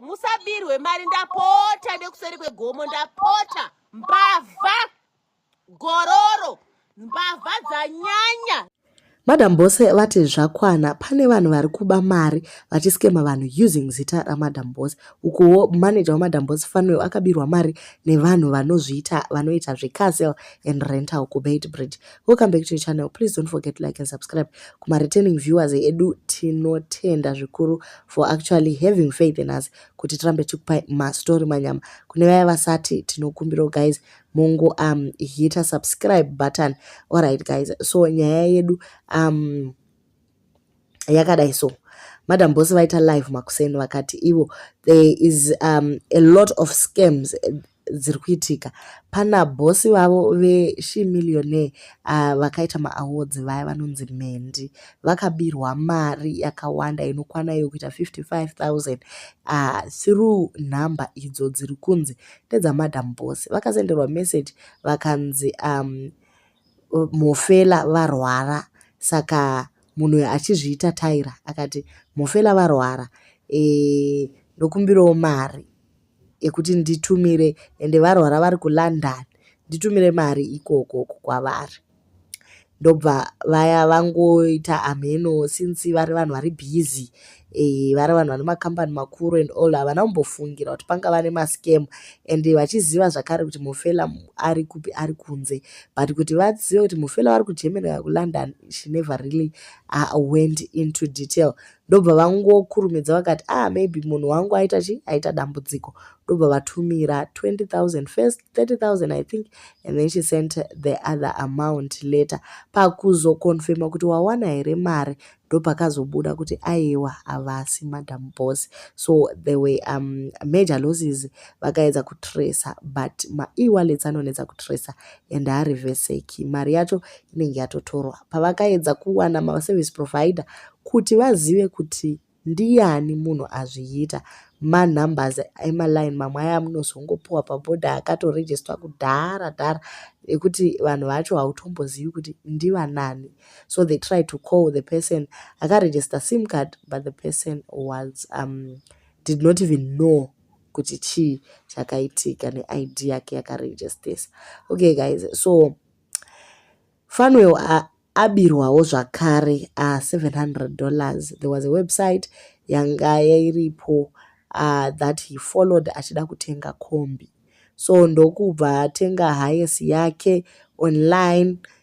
musabirwe mari ndapota nekuseri kwegomo ndapota mbavha gororo mbavha dzanyanya madam bose vati zvakwana pane vanhu vari kuba mari vachiskema vanhu using zita ramadam bose ukuwo manager wamadam bose fanwell akabirwa mari nevanhu vanozviita vanoita zvecastle and rental kubeit bridge welcome back to your channel please don't forget to like and subscribe kuma returning viewers edu tinotenda zvikuru for actually having faith in us kuti tirambe tikupai mastory manyama kune vaya vasati tinokumbirawo guys mungu um hita subscribe button alright guys so nyaya yedu um yakadai so madam boss vaita live makuseni vakati ivo there is um, a lot of scams eh, dziri kuitika pana bosi vavo veshi millionaire uh, vakaita maawards vaya vanonzi mhendi vakabirwa mari yakawanda inokwana iyo kuita 55000 uh, through number idzo dziri kunzi ndedzamadam bosi vakasenderwa message vakanzi um, Mhofela varwara saka munhu uyu achizviita Tyra akati Mhofela varwara e, ndokumbirawo mari yekuti nditumire ende varwara vari kuLondon nditumire mari ikoko kwavari ndobva vaya vangoita amheno since vari vanhu vari busy Eh, vari vanhu vane makambani makuru and all havana kumbofungira kuti pangava nemascam and vachiziva zvakare kuti mufela ari kupi ari kunze but kuti vazive kuti mufela vari kugermany kana kulondon she never really uh, went into detail ndobva vangokurumidza vakati ah maybe munhu wangu aita chi aita dambudziko ndobva vatumira 20000 first 30000 i think and then she sent the other amount later pakuzokonfirma kuti wawana here mari ndopakazobuda kuti aiwa havasi madam boss so the way um, major losses vakaedza kutracer but maewallets anonetsa kutracer and hariveseki mari yacho inenge yatotorwa pavakaedza kuwana maservice provider kuti vazive kuti ndiyani munhu azviita manumbers emaline mamwe aya amunozongopiwa pabhodha akatorejistwa kudhara dhara ekuti vanhu vacho hautombozivi kuti ndivanani so they tried to call the person akaregister sim card but the person was um, did not even know kuti chii chakaitika neid yake yakaregistesa okay guys so fanwell uh, abirwawo zvakare a uh, 700 dollars there was a website yanga yairipo uh, that he followed achida kutenga kombi so ndokubva atenga highest yake online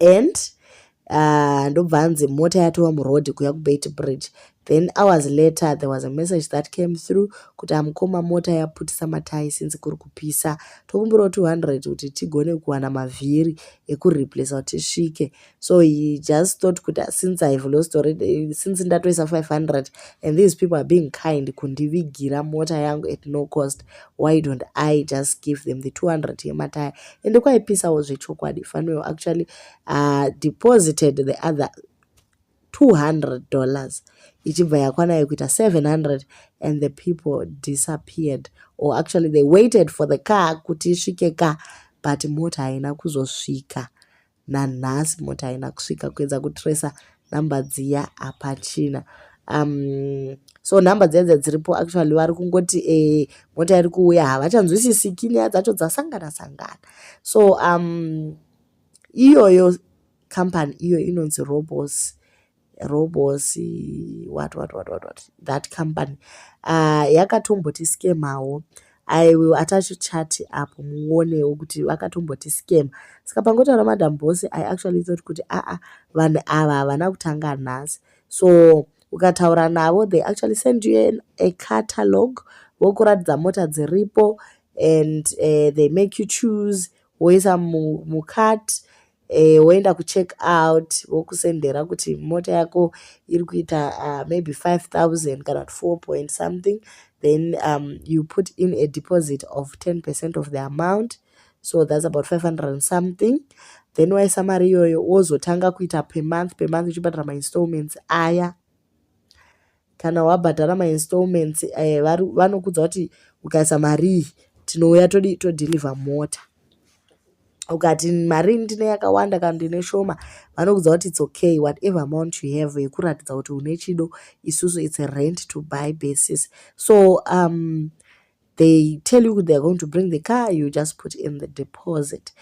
and uh, ndobva uh, anzi mota yatova muroad kuya kubeit bridge then hours later there was a message that came through kuti amukoma mota yaputisa matai since kuri kupisa tokumbirawo 200 kuti tigone kuwana mavhiri ekureplace kuti tisvike so he just thought kuti since ihave lost already since ndatoisa 500 and these people are being kind kundivigira mota yangu at no cost why don't i just give them the 200 yemataya ende kwaipisawo zvechokwadi fanuel actually uh, deposited the other 200 dollars ichibva yakwana yekuita 700 and the people disappeared or actually they waited for the car kuti isvike ka but mota haina kuzosvika nanhasi moti haina kusvika kuedza kutracer number dziya hapachina um, so number dziya dziya dziripo actually vari kungoti e, mota iri kuuya havachanzwisisiki nyaya dzacho dzasangana sangana so um, iyoyo company iyo inonzi robos robosi what what what what, what. that company uh, yakatomboti skemawo i will attach chat apo muonewo kuti vakatomboti scam saka pangotaura madam bosi i actually thought kuti aa ah, ah, vanhu ava havana kutanga nhasi so ukataura navo they actually send you an, a catalog vokuratidza mota dziripo and uh, they make you choose woisa mucat mu eh, woenda kucheck out vokusendera kuti mota yako iri kuita uh, maybe 5000 kana kuti 4 point something then um, you put in a deposit of 10 percent of the amount so that's about 500 and something then waisa mari iyoyo wozotanga kuita pemonth pemonth uchibhadhara mainstallments aya kana wabhadhara mainstallments eh, vanokudza kuti ukaisa marii tinouya todi todhilivha mota ukati mari ndine yakawanda kana ndine shoma vanokudza kuti its okay whatever amount you have yekuratidza kuti une chido isusu its a rent to buy basis so um, they tell you theyare going to bring the car you just put in the deposit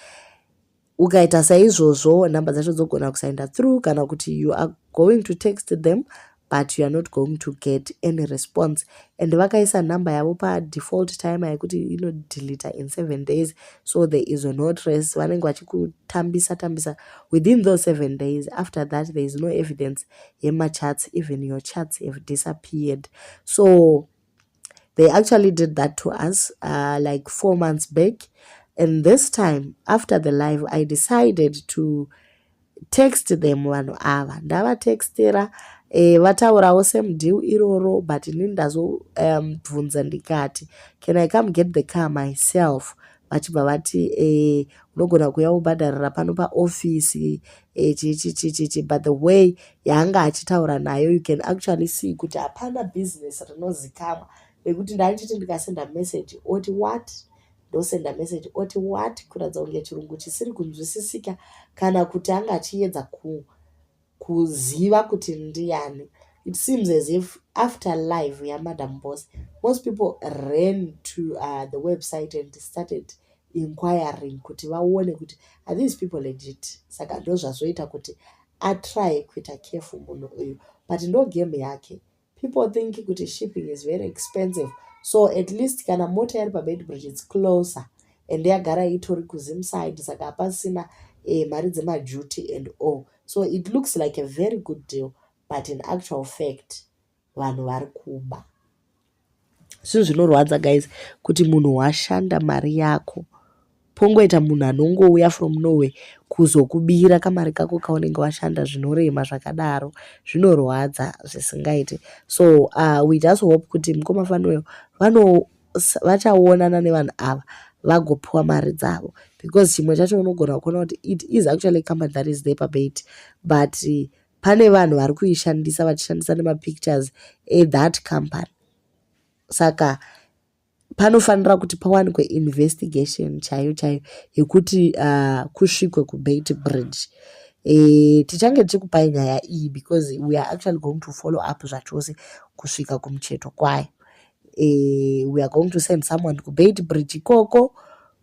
ukaita saizvozvo number dzacho dzogona kusaenda through kana kuti you are going to text them but you are not going to get any response and vakaisa number yavo padefault time yekuti inodeleta in seven days so there is no trace vanenge vachikutambisa tambisa within those seven days after that there is no evidence yemachats even your chats have disappeared so they actually did that to us uh, like four months back and this time after the live i decided to text them vanhu ava ndavatextera eh, vataurawo same deal iroro but ini ndazobvunza um, ndikati can i come get the car myself vachibva vati eh, unogona kuya ubhadharira pano paofisi echichichichichi but the way yaanga achitaura nayo you can actually see kuti hapana business rinozikamwa nekuti ndaichiti ndikasenda message oti what ndosenda message oti what kuratidza kunge chirungu chisiri kunzwisisika kana kuti anga achiyedza ku, kuziva kuti ndiani it seems as if after live yamadam boss most people ran to uh, the website and started inquiring kuti vaone kuti are these people legit saka ndozvazoita kuti atry kuita careful munhu uyu but ndo game yake people think kuti shipping is very expensive so at least kana mota yari pabeitbridge its closer and yagara itori kuzimside saka hapasina eh, mari dzemaduty and all so it looks like a very good deal but in actual fact vanhu vari kuba zvinhu zvinorwadza guys kuti munhu washanda mari yako pongoita munhu anongouya from norway kuzokubira kamari kako kaunenge washanda zvinorema zvakadaro zvinorwadza zvisingaiti so uh, we just hope kuti mukoma fanuel vachaonana nevanhu ava vagopiwa mari dzavo because chimwe chacho unogona kuona kuti it is actually company that is there pabate but uh, pane vanhu vari kuishandisa vachishandisa nemapictures ethat company saka panofanira kuti pawanikwe investigation chaiyo chaiyo yekuti uh, kusvikwe kubait bridge e, tichange tichikupai nyaya iyi because we are actually going to follow up zvachose kusvika kumucheto kwayo e, we are going to send someone kubait bridge ikoko